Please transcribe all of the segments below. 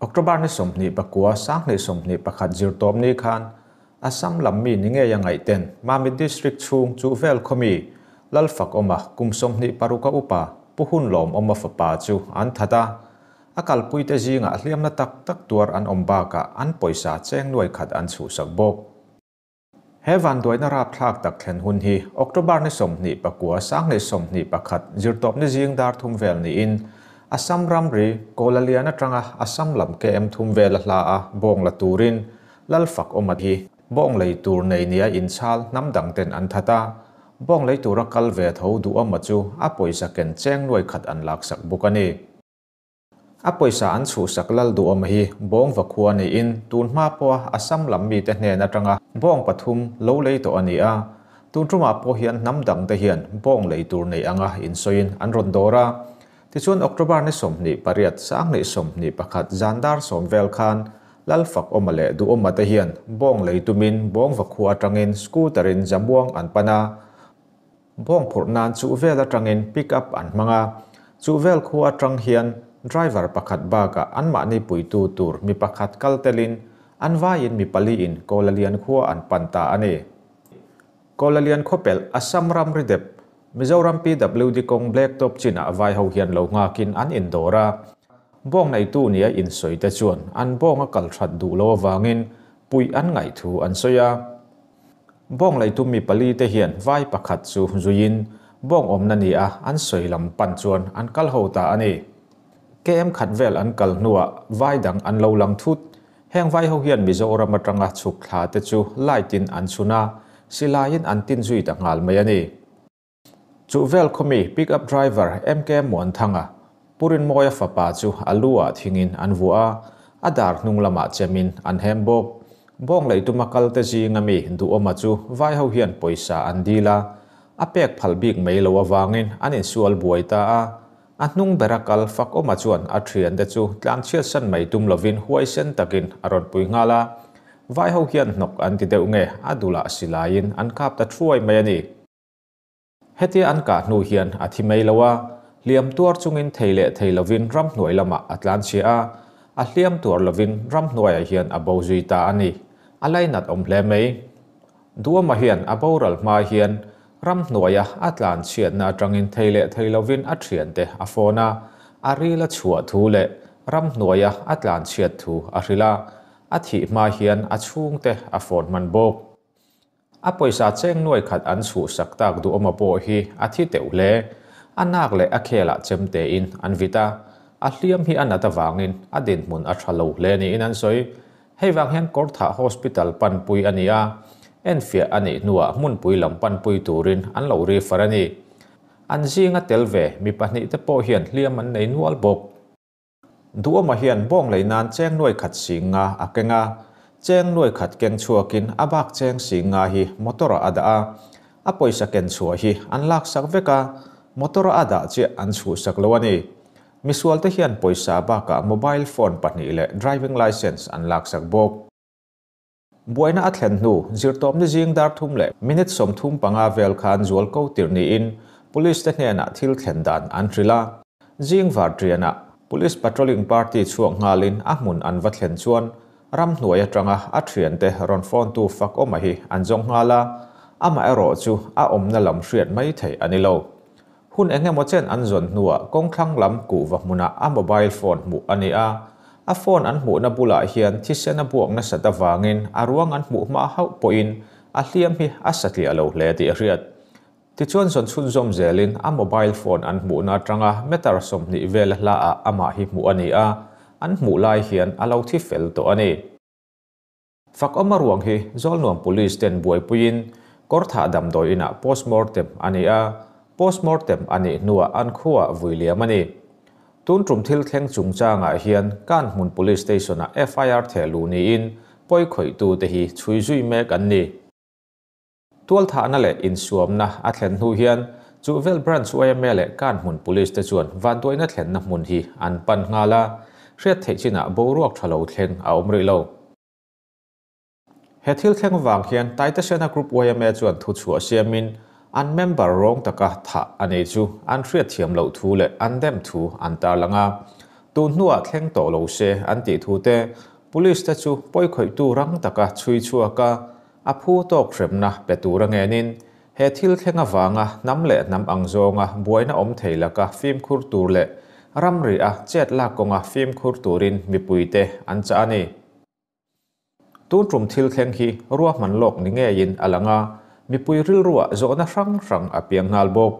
October ni sawmhnih pakua Sanghnih sawmhnih pakhat zirtawp ni khan a sam lam mi ni ngei a ngaihten Mamit District chhung chu vel khaw mi Lalfakawma kum sawmhnih paruk a upa Pu Hun Lawmawma fapa chu an that a, a kalpuite zingah hliamna tak tak tuar an awm bakah an pawisa cheng nuai khat an chhuhsak bawk. He vanduaina rapthlak tak thlen hun hi October ni sawmhnih pakua sanghnih sawmhnih pakhat zirtawp ni zing dar thum vel niin Assam ramri Kawlalian atanga Assam lam KM thum vel a hla a bawng la turin Lalfak awm a hi bawng lei tur nei nia inchhal hnam dang ten an that a bawng lei tura kal ve tho duh awm a chu a pawisa ken cheng nuai khat an laksak bawk a ni. A pawisa an chhuhsak lal duh awm hi bawng va khua niin tun hma pawha Assam lam mite hnen atanga bawng pathum lo lei tawh a ni a. Tun tumah pawh hian hnam dangte hian bawng lei tur nei anga insawiin an rawn dawr a. Tichuan October ni sawmhnih pariat Sanghnih sawmhnih pakhat zan dar sawm vel khan lal fakawma leh duhawmate hian bawng lei tumin bawng va khua atangin scooter-in zamuang an pan a. Bawng phurh nan chuh vel atangin pick up an hmang a, chuh vel khua atang hian driver pakhat bakah an mahni puitu tur mi pakhat kal telin an vaiin mi pali in Kolalian khua an pan ta a ni. Kolalian khuapelh Assam Ramridep, Mizoram PWD kawng Blacktop chinah vai ho hian lo nghakin an in dawr a, bawng neitu ni a insawi te chuan an bawng a kal that duh lo avangin puih an ngaih thu an sawi a. Bawng lei tum mi pali te hian vai pakhat chu zuiin bawng awmna ni a an sawi lam pan chuan an kal ho ta a ni. KM khat vel an kal hnuah vai dang an lo lang thut. Heng vai ho hian Mizoram atanga chhuk thla te chu light in an chhun a, silaiin an tin zui ta nghal mai a ni. Chuhvel khawmi pickup driver MK Muanthanga Pu Rinmawia fapa chu a lu ah thingin an vuah a, a dar hnung lamah chemin an hem bawk. Bawng lei tuma kalte zinga mi duhawma chu vai ho hian pawisa an dil a, a pek phal bik mai lo avangin an insual buai ta a. A hnung bera kal fak awma chuan a thian te chu tlan chhiatsan mai tum lovin huaisen takin a rawn pui nghal a. Vai ho hian hnawk an ti deuh nge a dul ah si laiin an kap ta thuai mai a ni. Hetia an kah hnu hian a thi mai lo a, hliam tuar chungin thei leh thei lovin ramhnuai lamah a tlan chhia a, a hliam tuar lovin ramhnuaiah hian a bo zui ta a ni. A lainat awm hle mai. Duama hian a boral hma hian ramhnuaia a tlan chhiatna atangin thei leh thei lovin a thiante a fawn a, a ril a chhuah thu leh ramhnuaia a tlan chhiat thu a hrilh a, a thih hma hian a chhungte a fawn hman bawk. A pawisa cheng nuai khat an suh sak tak duh awm a pawh hi a thi teuh hle. A nak leh a khelah chem tein an vit a, a hliam hi a nat avangin a dinhmun a tha lo hle niin an sawi. Hei vang hian Kawrthah Hospital panpui a ni a, enfiah a nih hnuah hmunpui lam panpui turin an lo refer a ni. An zinga tel ve mi pahnih te pawh hian hliam an nei nual bawk. Duhawma hian bawng lei nan cheng nuai khat sing nga a keng a, cheng nuai khat keng chhuakin a bak cheng sing nga hi motor-ah a dah a, a pawisa ken chhuah hi an laksak vek a, motor-ah a dah chiah an chhuhsak lo a ni. Misualte hian pawisa a bakah mobile phone pahnih leh driving licence an laksak bawk. Buaina a thlen hnu, zirtawp ni zing dar thum leh minute sawm thum panga vel khan zual ko tirh niin Police te hnenah thil thlen dan an hrilh a. Zing var tianah, Police Patrolling Party chhuak nghalin a hmun an va thlen chuan ram hnuai atanga a thiante rawn fawntu fakawma hi an zawng nghal a, amaherawhchu a awmna lam hriat mai thei a ni lo. Hun eng emaw chen an zawn hnuah kawngthlang lam kuh va hmunah a mobile phone hmuh a ni a. A phone an hmuhna bulah hian thisen a buak nasat avangin a ruang an hmuh hma hauh pawhin a hliam hi a satliah lo hle tih a hriat. Tichuan zawn chhunzawm zelin a mobile phone an hmuhna atanga meter sawmhnih vel a hla ah amah hi hmuh a ni a, an hmuh lai hian a lo thi fel tawh a ni. Fak awma ruang hi Zawlnuam Police ten buaipuiin Kawrthah damdawi inah Postmortem a ni a, Postmortem a nih hnuah an khua vui liam a ni. Tun tum thil thleng chungchangah hian Kan Hmun Police Station-ah FIR theh luh niin pawi khawihtu te hi chhui zui mek an ni. Tualthahna leh insuamna a thlen hnu hian chu vel Branch YMA leh kan hmun Police te chuan vanduaina thlenna hmun hi an pan nghal a, hriat theih chinah boruak tha lo thleng a awm rih lo. He thil thleng vang hian Taitasena Group YMA chuan thuchhuah siamin an member rawng taka thah a nei chu an hriatthiam loh thu leh an demh thu an tarlang a, tun hnuah thleng tawh lo se an tih thu te Police te chu pawi khawihtu rang taka chhui chhuak a, A phu tawk hremna pe tura ngenin he thil thleng avanga hnam leh hnam ang zawnga buaina awm thei laka fimkhur tur leh ramri a chet lak kawnga fimkhur turin mipuite an chah a ni. Tun ṭum thil thleng hi ruahman lawk ni ngeiin a lang a, mipui rilruah zawhna hrang hrang a piang nghal bawk.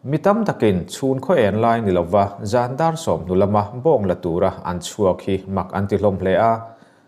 Mi tam takin chhun khaw en lai ni lova zan dar sawm hnu lama bawng la tura an chhuak hi mak an tihlawm hle a,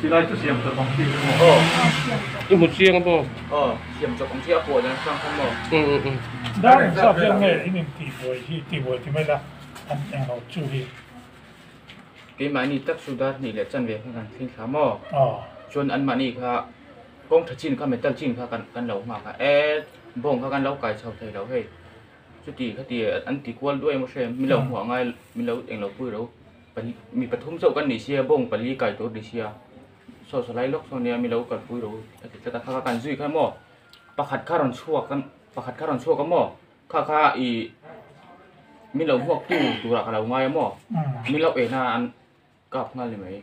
Silai chu siam chawp ang thik hi maw? I hmu chiang maw? Aw, siam chawp ang thik a pawl ang chang khan maw? Umm umm umm. Dar in zap vel nge in intihbuai hi tihbuai ti mai la an englo chu hi. Keimahni tak chu dar hnih leh chanve kha kan thleng thla maw? Aw. Chuan anmahni kha kawng tha chin kha metal chin kha kan lo nghak a, e bawng kha kan lo kai chho thei lo hei. Chutih kha ti an ti kual duai maw hre, min lo hmuh a ngai min lo englo pui lo. Mi pathum chauh kan ni si a, bawng pali kai tur ni si a, saw saw lai lawk saw nia mi lo kalpui ro a ti tlat a, kha kha kan zui kha maw, pakhat kha rawn chhuak a, pakhat kha rawn chhuak a maw, kha kha i mi lo hmuak tu turah ka lo ngai a maw, mi loh ehna an kap nghal ni mai.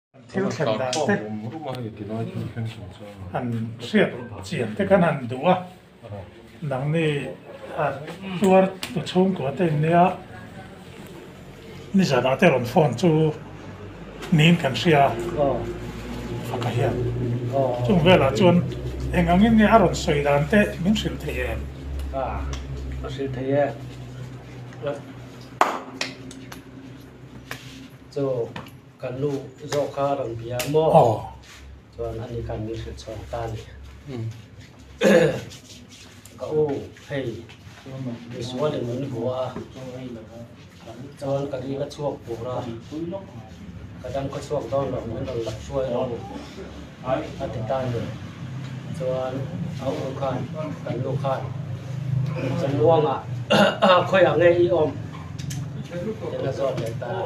thil thlen dan te han hriat chian te khan han duh a nangni tuar tu chhung kua te in nia ni zan ah te rawn phone chu niin kan hria a ka hian chung vel ah chuan eng ang in nia a rawn sawi dan te min hrilh thei em a ka hrilh thei e chu Kan nu zawk kha a rawn bia maw? Aw. Chuan a ni khan min hrilh chhuak ta a ni. Ka u, hei, Isua lem min bua a, chuan ka ri ka chhuak bur a, ka dang ka chhuak dawn loh min rawn lak hruai lo a ti ta a ni. Chuan a u khan, kan nu khan, Kan Luanga, khawiah nge i awm? Tiin a zawt leh ta a.